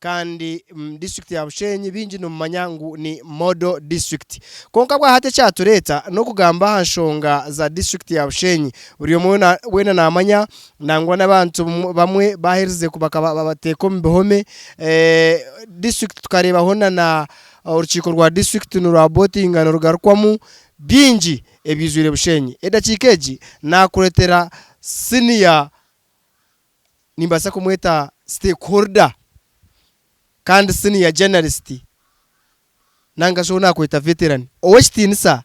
kandi district ya Bushenyi bingi nimumanya ngu ni model district kwonka bwahati ekyatureta nokugamba aha nshonga za district ya Bushenyi buri omwe wena namanya nangwa nabantu bamwe baherize bakaba babateka omu bihome district tukarebaho na orukiiko rwa district nirwa botinga nirugarukwamu bingi ebyizwire Bushenyi edakika egi nakuretera senior. nimbaasa kumweta stakeholder kandi senior journalist nari shi ou naakweta veteran ow'ekitiinisa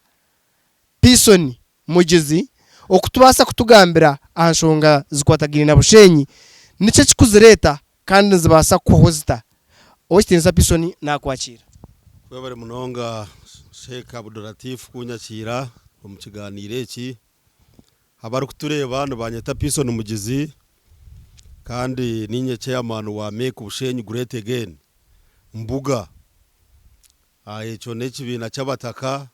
Peason Mugizi okubaasa kutugambira aha nshonga zikwatagaine na Busheenyi, niki ekikuzireeta kandi nizibaasa kuhwaho zita? Ow'ekitiinisa Peason naakwakiira. Webare munonga Sheikh Abdulatiif kunyakiira omu kigaaniiro eki. Abarikutureeba nibanyeta Pearson Mugizi kandi niinye chairman wa Make Bushenyi Great Again Mbuga. Ekyo n'ekibiina ky'abataka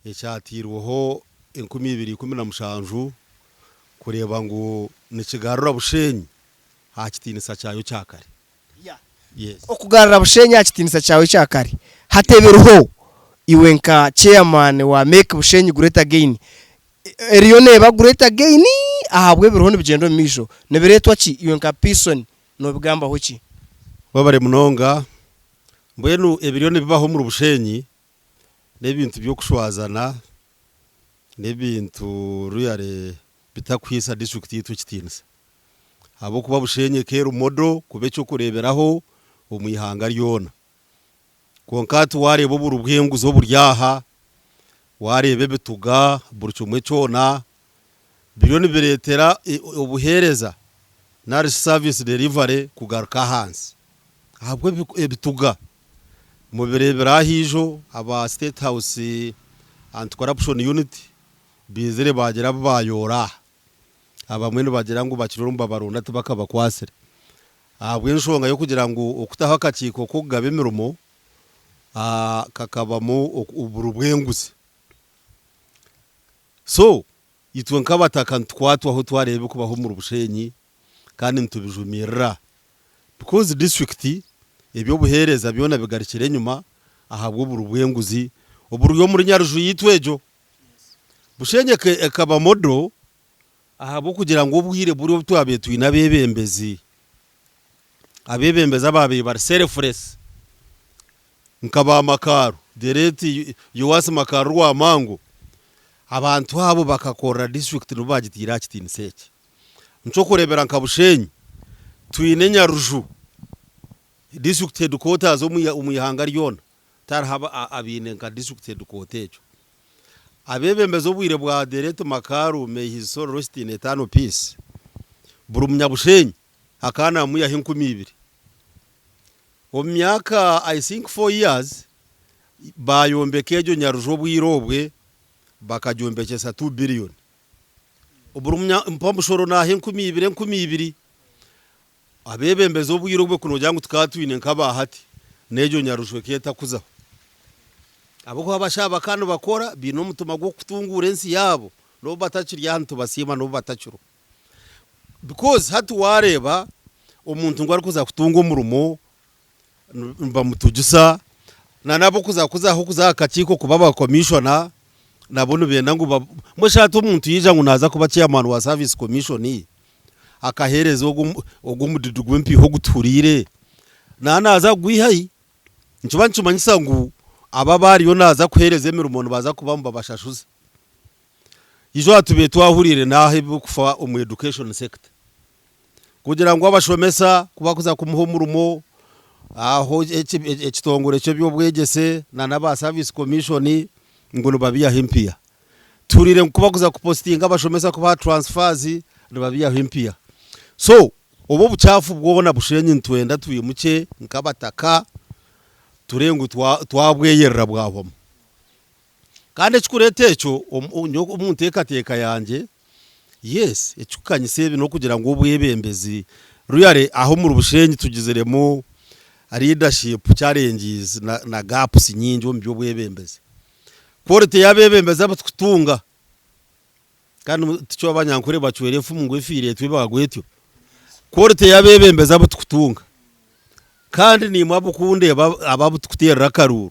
ekyateirweho enkumi ibiri ikumi na mushanju kureeba ngu nikigarura Bushenyi aha kitiinisa kyayo kya kare. Okugarura bushenyi aha kitiinisa kyawe ekya kare. Hatebirweho, iwe nka Chairman wa Make Bushenyi Great Again, eriyo neba great again ahabwa ebiriho nibigyenda omu maisho. Nibiretwa ki? Iwe nka Pearson nobigambaho ki? Webare munonga. Mbwenu ebiriyo nibibaho omuri Bushenyi n'ebintu by'okushwazana, n'ebintu really bitakuhiisa district yaitu ekitiinisa. ahabw'okuba Bushenyi ekeero modo kuba eky'okureeberaho omu ihanga ryona. Kwonka hati waareeba oburo bw'enguzi oburi aha, waareeba ebituga, buri kimwe kyona biriyo nibireetera obuheereza nari shi service delivery kugaruka ahansi. Ahabw'okuba ebituga mubireebire aha ijo, aba State House Anti-Corruption Unit baizire baagira abu baayoora aha. abamwe nibagira ngu bakira omu babaronda tibakabakwatsire ahabw'enshonga y'okugira ngu okutaho akakiiko k'okugaba emirimo kakabamu oburo bw'enguzi. So itwe nk'abataka nitukwatwaho twareeba ebirikubaho omuri Bushenyi kandi nitubijumirira because district eby'obuheereza byona bigarukire enyima ahabw'oburo bw'enguzi oburi omuri Nyaruju yaitu egyo. Bushenyi ekaba modo ahabw'okugira ngu obwire buri obu twabaire twine abeebembezi, abeebembezi abaabaire bari selfless nka ba Makaaro, the late Yowaasi Makaaro Rwamango, abantu abo bakakorera disiturikiti nibo baagitaire aha kitiinisa eki. Nkyokureebera nka Bushenyi twine Nyaruju, disiturikiti heedikwotaazi omu ihanga ryona. tihariho abaine nka District Headquarter egyo. Abebembezi obwire bwa Dereti Makaru, May his soul rest in eternal peace, buri munyabushenyi akaba namuihaho enkumi ibiri. Omu myaka I think four years bayombeka egyo Nyaruju obwire obwe bakagyombekyesa two billion. Buri mpabushoro naha enkumi ibiri enkumi ibiri. Abebembezi obwire obwe kunogira ngu tukaba twine nkaba hati negyo nyarushweka etakuzaho ahabwokuba abashaho bakaba nibakora bine omutima gwokutunguura ensi yabo nobu batakiri aha nitubasiima nobu batakiriho because hati wareba omuntu ngu arikuza kutunga omurimo nibamutugisa nana ab'okuzakuzaho kuza aha kakiiko kuba ba komishona nabo nibenda ngu ba- mbwenu shi hati omuntu yaija ngu naaza kuba chairman wa service commission akaheereza ogu omu- ogu omudidi gw'empiiha ogu tuhuriire nawe naaza kugwihayo nikiba nikimanyisa ngu abo abu ariyo naaza kuheereza emirimo nibaza kuba nibabashashuza ijo aha tube twahuriire n'aha ebirikufa omu education sector. kugira ngu abashomesa ku barikuza kumuha omurimo aho ekitongore ky'eby'obwegyese na n'aba service commission ngu nibabiihaho empiiha. Tuhuriire ngu ku barikuza ku positinga abashomesa kubaha transfers nibabiihaho empiiha. So obu obucaafu bwoona Bushenyi nitwenda twimukye nk'abataka turebe ngu twabweyerera bwahwamu. Kandi ekikureeta ekyo nyowe omu nteekateeka yangye, yes, ekikukanyisa ebi n'okugira ngu obwebembezi really aha omuri Bushenyi tugiziremu leadership challenges na gaps nyingi omu by'obwebembezi. Quality y'abebembezi abu turikutunga, kandi tikyo abanyankore bacwera efumu ngu efiire etwe baagwa etyo. Quality y'abebembezi abu turikutunga kandi naimwe abu kundeeba abu turikuteerera akaruuru,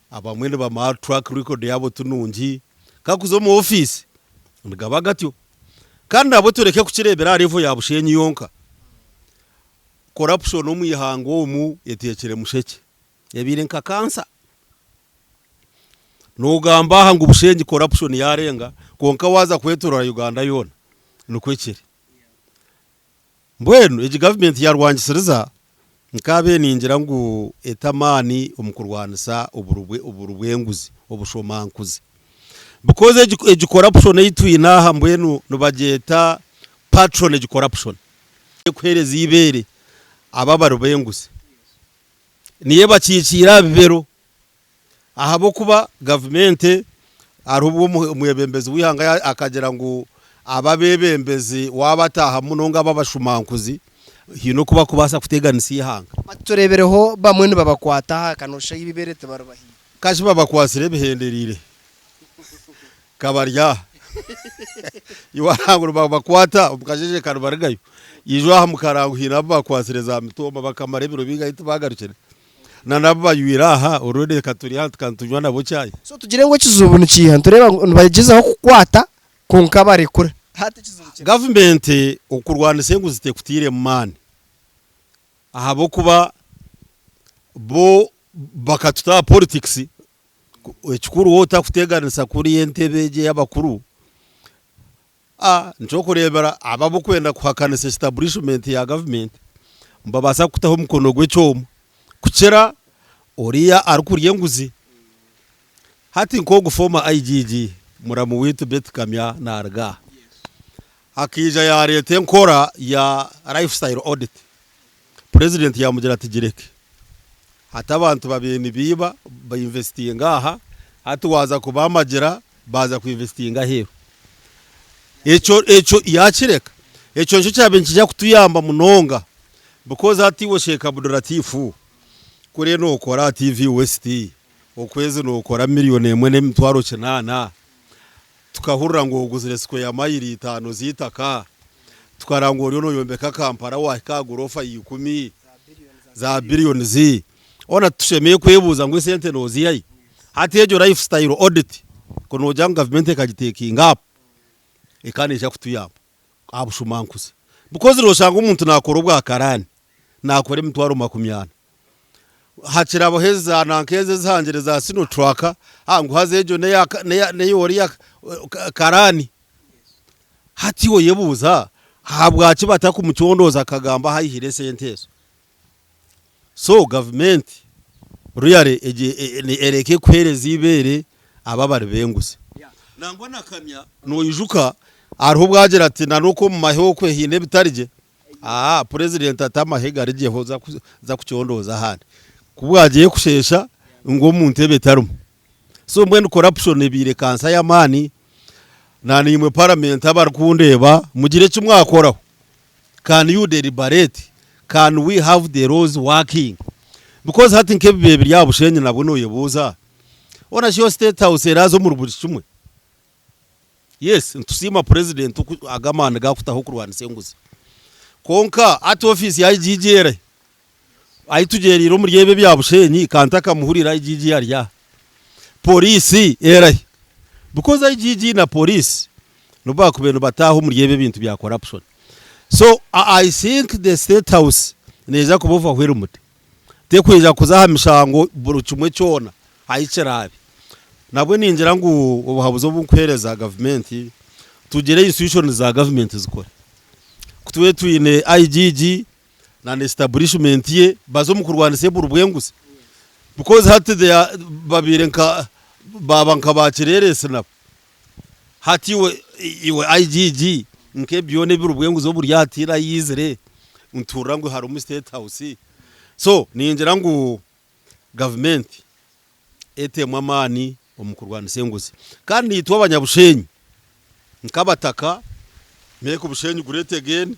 Abamwe nibamara track record yaabo ti nungi, ka kuza omu office nigaba gatyo. Kandi nabwo tureke kukireebera aha level ya Bushenyi yonka. Corruption omu ihanga omu eteekire mushekye. Ebaire nka cancer. Nogamba aha ngu Bushenyi corruption yarenga, kwonka waza kwetorora Uganda yoona nikwo ekiri. Mbwenu egi gavumenti yarwangisiriza nkaabe niingira ngu ete amaani omu kurwanisa oburi bw'enguzi, obushomankuzi. Because egi egi corruption ei twine aha mbwenu nibagyeta patronage corruption, erikuheereza eibeere abo abari b'enguzi. Niyo ebakiikiire aha bibero. Ahabw'okuba gavumenti hariho obu omwebembezi w'eihanga akagira ngu abo abeebembezi waaba bataaha muno ngu abo abashumankuzi, haine oku barikubaasa kuteganisa eihanga. Hati tureebereho bamwe nibabakwata aha ka nooshusha ei bibeire tibaribahaire. Ka shi babakwatsire ebihendereire ka bari aha? Iwe oraaha ngu nibabakwata omukajegye ka nibarigayo? Ijo aha mukaraa ngu haine abu baakwatsire za mitooma bakamara ebiro bingahi tibaagarukire? Na n'abu banywiire aha, orwo reeka turye hati kandi tunywa nabo caayi. So tugire ngu ekizibu nikiiha, nitureeba ngu nibagyezaho kukukwata kwonka barekura. Hati ekizibu kiri. Gavumenti okukurwanisa enguzi tekutairemu maani ahabw'okuba bo bakatuta aha politikisi. Ekikuru wowe otakuteganisa kuriya entebe egyo ey'abakuru, A Eky'okureebera, Abo abarikwenda kuhakanisa esitaburishimenti ya gavumenti nibabaasa kukutaho omukono gw'ekyoma kukira oriya arikurya enguzi. Hati nk'ogu fooma IGG muramu waitu Beti Kamya naaruga aha, akaija yaareeta enkora ya Lifestyle Audit. Purezidenti yaamugira ati, Gireke. Hati abantu babaire nibaiba, bainvesitinga aha, hati waaza kubamagira baaza kuinvesitinga aheeru. Ekyo, ekyo yaakireka. Ekyo nikyo kyabaire nikiija kutuyamba munonga because hati iwe Sheikh Abdulatif, kuriya nookora aha TV West, okwezi nookora million emwe n'emitwaro kinaana. Tukahurira ngu oguzire siko ya mayiro itaano z'eitaka. Tukareba ngu oriyo noyombeka Kampala wahika aha gorofa ya ikumi, za billions. Hoona tushemeire kwebuuza ngu esente nozihahi? Hati egyo life style audit ku nogira ngu government ekagi taking up ekaba neija kutuyamba aha bushumankuzi because noshanga omuntu nakora obwa karaani nakora emitwaro makumi ana. hakirabaho eza nanka ezo ezihangire za sino turaka ah ngu haza egyo neya neya oriya karani hati oyebuuza ahabwaki batakumucondooza akagamba ahu aihire esente ezo so gavumenti ruyare egye e ereke kuheereza eibeere abo abari b'enguzi. Nangwa na kamya noyijuka hariho obwagira ati nanoku omu mahe okwe haine ebitarigye Aa purezidenti ati amahe garigyeho oza kucondooza ahandi ku bwagiire kusheesha ngu omu ntebe etarimu so mbwenu corruption ebaire kansa y'amaani na naimwe paramenti abarikundeeba mugire eki mwakoraho can you deliberate can we have the laws working because hati nk'ebibeebire aha busheenyi nabwo noyebuuza ona shi state house eraaze omuri buri kimwe. Yes nitusiima president oku aga amaani gakutaho okurwanisa enguzi kwonka ati office ya IGG erahi? Ahi tugyereire omuri ebi ebya Bushenyi ka ntakamuhurira IGG ari aha? Police erahi? Because IGG na police nibo bakubire nibataaha omuri ebi ebintu bya corruption so I think the state house neija kuba ovaho eri muti. Tirikwija kuza aha mishango buri kimwe kyona ahi kiraabe. Nabwe ningira ngu obuhabuzi obu nkuheereza gavumenti, tugire institutions za gavumenti zikore. Ku tube twine IGG na n'esitaburishimenti ye baze omu kurwanisa eburubwengutsi bikozi hati they are babaire nka baaba nka ba kireeresi nabo. Hati iwe, iwe IGG, nk'ebi byona ebi Rubwenguzi oburyatiine ayeizire, nituhurira ngu harimu State House. So, ningira ngu gavumenti eteemu amaani omu kurwanisa enguzi. Kandi naitwe Abanyabushenyi, nk'abataka, make Bushenyi great again,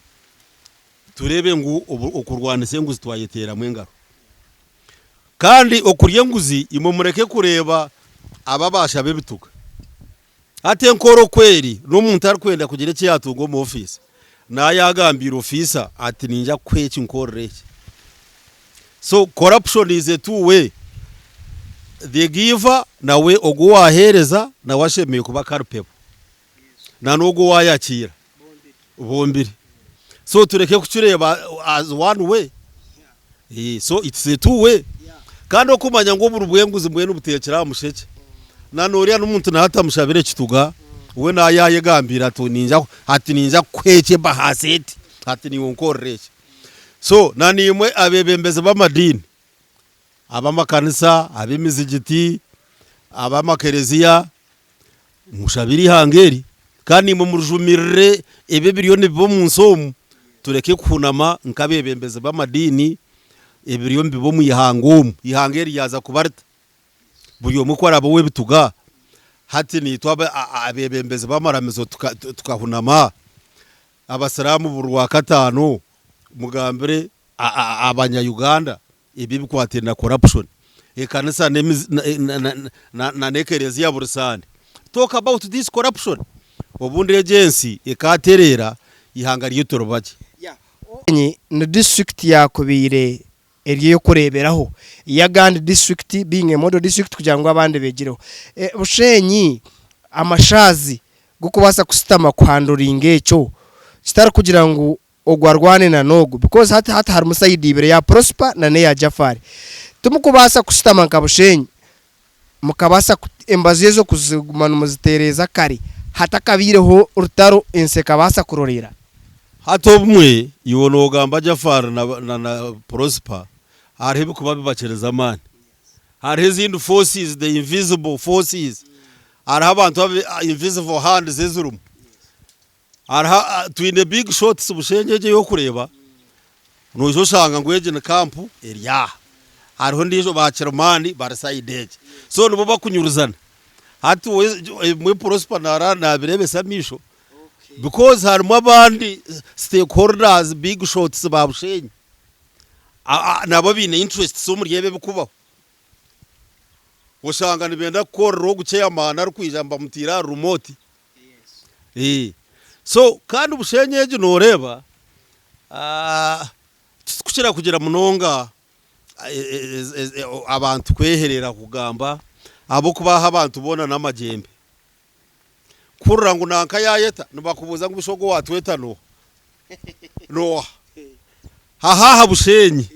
tureebe ngu obu, okurwanisa enguzi twayeteeramu engaro. Kandi okurya enguzi imwe mureke kureeba ababaasha b'ebituga. Hati enkora oku eri, n'omuntu arikwenda kugira eki yaatunga omu ofiisi, naaba yaagambiire ofiisa ati niija kukuha eki nkorera eki. So corruption is a two way, the giver nawe ogu waaheereza nawe ashemereire kuba akaripebwa. na n'ogu owaayakiira bombire so tureke kukireeba as one way Eh, so it's a two way kandi okumanya ngu oburu bw'enguzi mbwenu buteekire aha mushekye na n'oriya n'omuntu nawe atamushabire kituga we nawe yaayegambiire ati ninja ati ninja kukuha eki ebahaasa eti ati niiwe onkorera eki so na niimwe abeebembezi b'amadiini ab'amakanisa ab'emizigiti ab'amakereziya Mushabire eihanga eri, kandi naimwe murijumirire ebi ebiriyo nibiba omu nsi omu. Tureke kuhunama nk'abeebembezi b'amadiini ebiriyo nibiba omu ihanga omu. Eihanga eri ryaza kuba rita? Buri omwe ku araabe ow'ebituga, hati naitwe abeebembezi b'amaramizo tukahunama? Abasiraamu buri Rwakataano mugambire Abanya-Uganda? Ebi ebikwatiraine na corruption, ekanisa na nekerezia buri sande talk about this corruption obundi egyo ensi ekatereera ihanga ryaitu ribagye. Obugenyi ni district yakubaire eri eyokureeberaho yagandi district being a model district kugira ngu abandi begireho. Busheenyi amashaazi gokubaasa kusitama kuhanduringa ekyo kitari kugira ngu Ogu arwane na n'ogu because hati hati harimu side ibiri eya Prosper na n'eya Jafari. Timukubaasa kushutama nka bushenyi mukabaasa ku embazo ezo kuziguma nimuzitereeza kare hatakabaireho rutaro ensi ekabaasa kurorera. Hati obumwe iwe nogamba Jafari na na na Prosper hariho ebikuba bibakyereza amaani. Hariho ezindi forces, the invisible forces, hariho abantu abu invisible hands ezirimu. Hariho twine big shots bushengye egyo ey'okureeba noija oshanga ngu egi ni camp eri aha hariho endiijo ba Kirimani bari side egi so nibo bakunyurizana hati we ebimwe Prosper nara nabireebesa amaisho because harimu abandi stake holders big shots ba Bushenyi nabo abaine interests omuri ebi ebikubaho oshanga nibenda kukorera ogu chairman arikwija ngu bamutaire ahari remote. So kandi busheenyi egi noreeba titukukira kugira munonga abantu kweherera kugamba ahabw'okuba aho abantu boona n'amagyembe. Kuhurira ngu nanka yayeta nibakubuuza ngu busha ogu owatweta n'oha? Noha? Haha aha busheenyi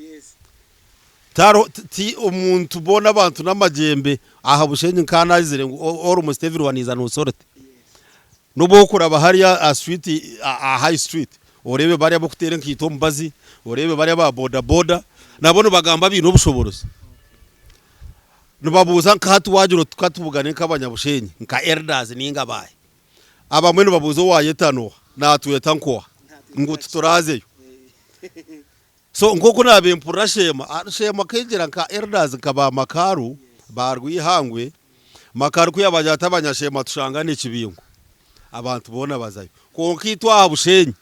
tihariho ti omuntu boona abantu n'amagyembe aha busheenyi nk'aha naizire ngu almost everyone is an authority. Nobu okuraba hari aha street aha high street oreebe bari ab'okuteera enkaito omubazi, oreebe bari aba boda boda nabo nibagamba baine obushoboorozi. Nibabuuza nka hati wagira oti katubugane nk'abanyabusheenyi nka elders ninga abaahi? Abamwe nibabuuza owaayeta n'oha, naatweta nk'oha ngu tituraazeyo. So nk'oku naabaire mpurira Sheema, Sheema akaingira nka Elders nka ba Makaru, ba Rwihangwe. Makaru ku yaabagira ati abanyasheema tushangane Kibingo, abantu boona bazayo. Kwonka itwe aha Bushenyi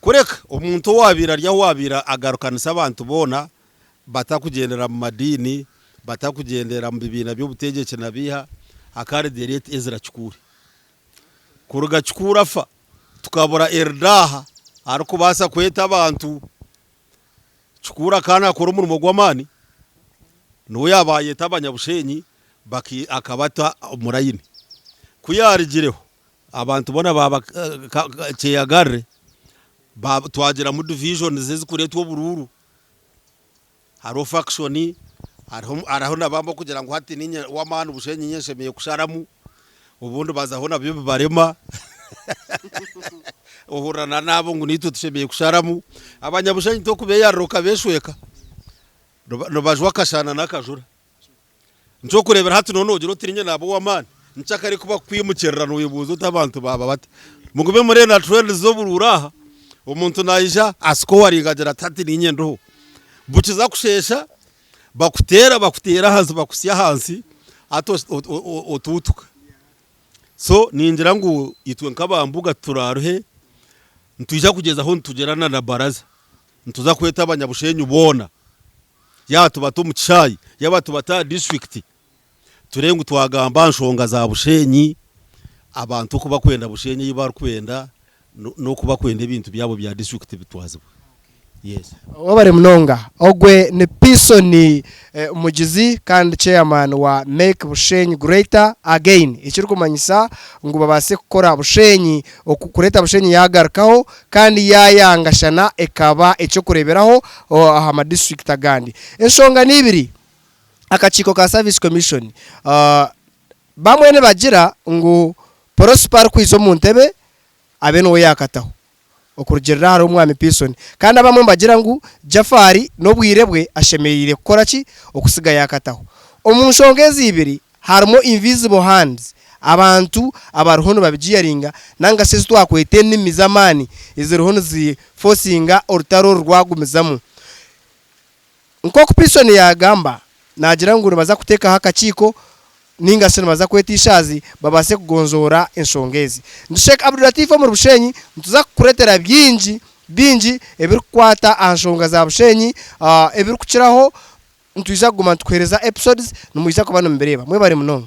Kureka omuntu owaabaire ari ahu waabaire agarukanisa abantu boona batakugyendera mu madiini, batakugyendera mu bibiina by'obutegyeki na biiha, akaaredeera eti, Ezira kikuure. Kuruga kikuure afa, tukabura eridaaha arikubaasa kweta abantu. Kikuure akaba naakora omurimo gw'amaani, niwe yaaba ayeta Abanyabushenyi, akabata omu layini. Ku yaarigireho, abantu boona baaba kyeyagarire, twagiramu divisions ezirikureetwa oburuuru, hariho factioni, hariho nabamwe abarikugira ngu hati niinye ow'amaani busha niinye nshemereire kusharamu, obundi bazaho nabyo bibarema, ohurira na n'abo ngu naitwe tushemereire kusharamu, abanyabushenyi tibakubeyarira okabeshweka, nibajwa akashana n'akajura. Nkyokureberaho hati noona ogira oti ninye naaba owamaani? Niki akari kuba kukwimukirira noyebuuza oti abantu baaba bata? Mugume muri ena trends z'oburuuru aha, omuntu naija asika owaringa agira ati hati ninye ndiho. Bukiza kusheesha bakuteera bakuteera ahansi bakutsya ahansi hati otuutuka. So ningira ngu itwe nk'abambuga tituraruhe nitwija kugyezaho nitugira na baraza nituza kweeta abanyabushenyi boona. yaaba tuba t'omu kishaayi, yaaba tuba t'aha disiturikiti, turebe ngu twagamba aha nshonga za Busheenyi, abantu oku bakwenda Busheenyi ei barikwenda, n'oku bakwenda ebintu byabo bya disiturikiti bitwazibwe. Yes. Webare munonga. Ogwe ni Peason Mugizi kandi Chairman wa Make Bushenyi Greater Again ekirikumanyisa ngu babaase kukora Bushenyi, kureeta Bushenyi yaagarukaho. kandi yaayanga shana ekaba eky'okureeberaho aha madistrict agandi. Enshonga ni ibiri, akakiiko ka Service Commission bamwe nibagira ngu Prosper arikwija omu ntebe abe niwe yaakataho okurugirira ahari Omwami Pearson kandi abamwe nibagira ngu Jafari n'obwire bwe ashemereire kukora ki? Okutsiga yaakataho. Omu nshonga ezi ibiri, Harimu invisible hands, abantu abariho nibabigiyaringa nanga shi ezi twakweta enimi z'amaani eziriho nizi forcinga orutaro oru rwagumizamu. Nk'oku Pearson yaagamba, naagira ngu nibaza kuteekaho akakiiko ninga shi nibaza kweta eishaazi babaase kugonzoora enshonga ezi. Ndi Sheikh Abdul Latif omuri Bushenyi, nituza kukureetera bingi bingi ebirikukwata aha nshonga za Bushenyi ebirikukiraho. Nitwija kuguma nitukuhereza episodes nimwija kuba nimubireeba. Mwebare munonga.